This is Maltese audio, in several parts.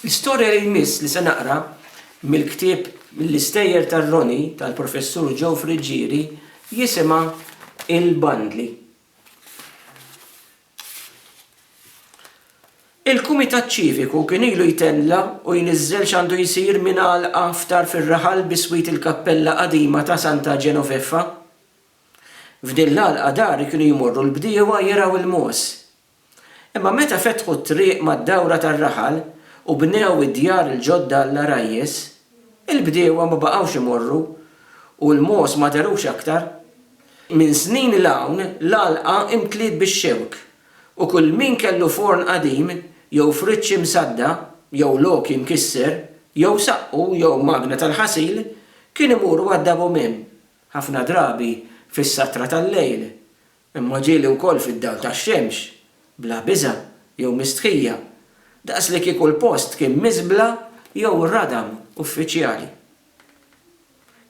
L-istorja li jmiss li se naqra mill-ktieb Mill-Istejjer tar-Roni tal-Professur Joe Friggieri jisimha Il-Bandli. Il-Kumitat Ċiviku kien ilu jtella' u jniżżel x'għandu jsir minn għalqa ftar fir-raħal biswit il-kappella qadima ta' Santa Genoveffa. F'din l-għalqa dar kienu jmorru l-bdiewa jergħu l-mogħoż. Imma meta fetħu t-triq mad-dawra tar-raħal u bnew id-djar il-ġodda għall-għarajjes, il-bdiewa ma baqgħux imorru u l-mogħoż ma dharux aktar. Minn snin 'l hawn l-għalqa imtliet bix-xewk u kull min kellu forn qadim jew friġġ imsadda jew logħki mkisser jew saqqu jew magna tal-ħasil kien imur għad-Dabomem, ħafna drabi fis-satra tal-lejl, Imma ġieli wkoll fid-dawl tax-xemx, bla biża' jew mistħija, daqslikieku l-post kien miżbla jew radam uffiċjali.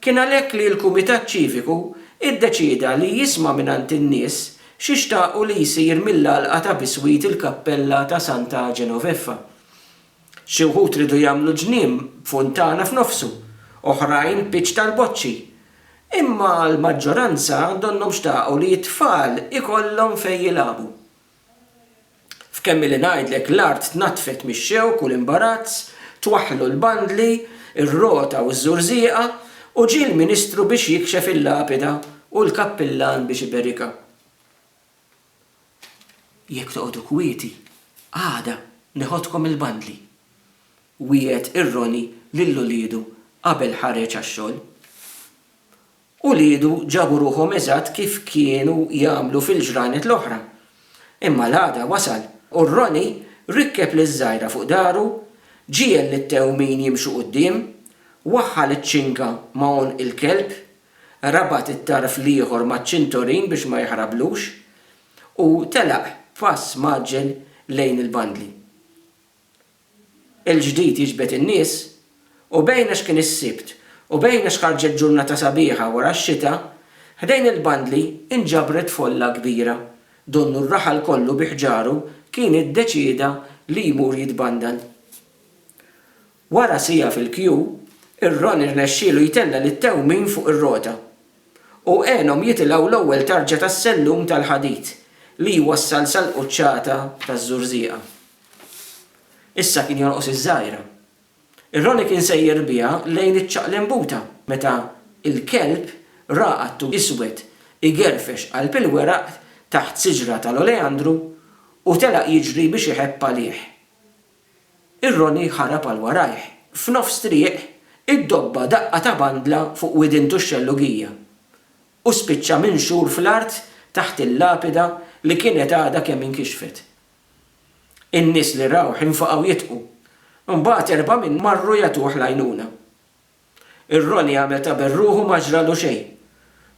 Kien għalhekk li l-Kumitat Ċiviku iddeċieda li jisma' mingħand in-nies xi xtaqu li jsir mill-għalqa ta' biswit il-kappella ta' Santa Genoveffa, Xi wħud riedu jagħmlu ġnien b'funtana f'nofsu, oħrajn pitch tal-boċċi. Imma l-maġġoranza donnhom xtaqu li t-tfal ikollhom fejn jilagħbu. F'kemm illi ngħidlek l-art tnaddfet mix-xewk u l-imbarazz, twaħħlu l-bandli, ir-rota u ż-żurżieqa, u ġie l-ministru biex jikxef il-lapida u l-kappillan biex iberikha. Jekk toqogħdu kwieti, għada neħodkom il-bandli, wiegħed ir-Roni lil uliedu qabel ħareġ għax-xogħol. Uliedu ġabu ruħhom eżatt kif kienu jagħmlu fil-ġranet l-oħra. Imma l-għada wasal u r-Roni rikkeb liż-żgħira fuq dahru, ġiegħel lit-tewmin jimxu quddiem, waħħal iċ-ċinga ma' għonq il-kelb rabat it-tarf l-ieħor maċ-ċintorin biex ma jaħrablux, u telaq b'pass mgħaġġel lejn il-bandli. Il-ġdid jiġbed in-nies, u bejn għax kien is-Sibt u bejn għax ħarġet ġurnata sabiħa wara x-xita, ħdejn il-bandli nġabret folla kbira. Donnu r-raħal kollu bi ħġaru kien iddeċieda li jmur jitbandal. Wara siegħa fil-kju, ir-Ron irnexxielu jtella' lit-tewmin fuq ir-rota, u għenhom jitilgħu l-ewwel tarġa tas-sellum tal-ħadid li jwassal sal-quċċata taż-Żurżieqa. Issa kien jonqos iż-żgħira. Ir-Ronnie kien sejjer biha lejn iċ-ċaqlimbuta meta l-kelb ra qattu iswed igerfex qalb il-weraq taħt siġra tal-oleandru u telaq jiġri biex iħebb għalih. Ir-Roni ħarab għal warajh. F'nofs triq, iddobba daqqa ta' bandla fuq widintu x-xellugija, u spiċċa minxur fl-art taħt il-lapida li kienet għadha kemm inkixfet. In-nies li rawh infaqgħu jidħku. Imbagħad erbgħa minnhom marru jagħtuh l-għajnuna. Ir-Roni għamel ta' berruħu ma ġralu xejn,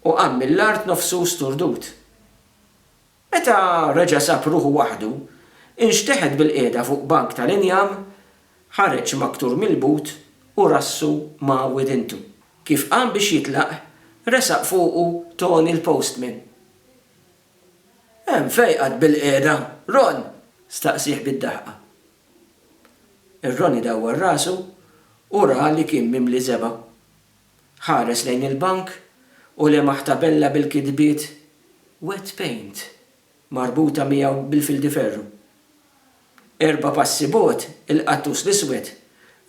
u qam mill-art nofsu sturdut. Meta reġa' sab ruħu waħdu, inxteħet bil-qiegħda fuq bank tal-injam, ħareġ maktur mill-but u rassu ma' widintu. Kif qam biex jitlaq, resaq fuqu Toni l-postman. Hemm fejqat bil-qiegħda, Ron? staqsieh bid-daħqa. Ir-Ronnie dawwar rasu u ra li kien mimli żebgħa. Ħares lejn il-bank u lemaħ tabella bil-kitbiet Wet Paint marbuta miegħu bil-fildiferru. Erba' passi bogħod il-qattus l-iswed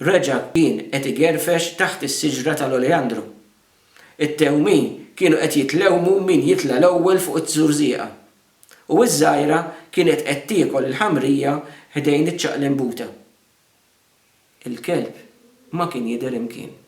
reġa' kien qed igerfex taħt is-siġra tal-oleandru. It-tewmin kienu qed jitlewmu min jitla' l-ewwel fuq iz-zurżieqa. U iż-żgħira kienet qed tiekol il-ħamrija ħdejn iċ-ċaqlimbuta. Il-kelb ma kien jidher imkien.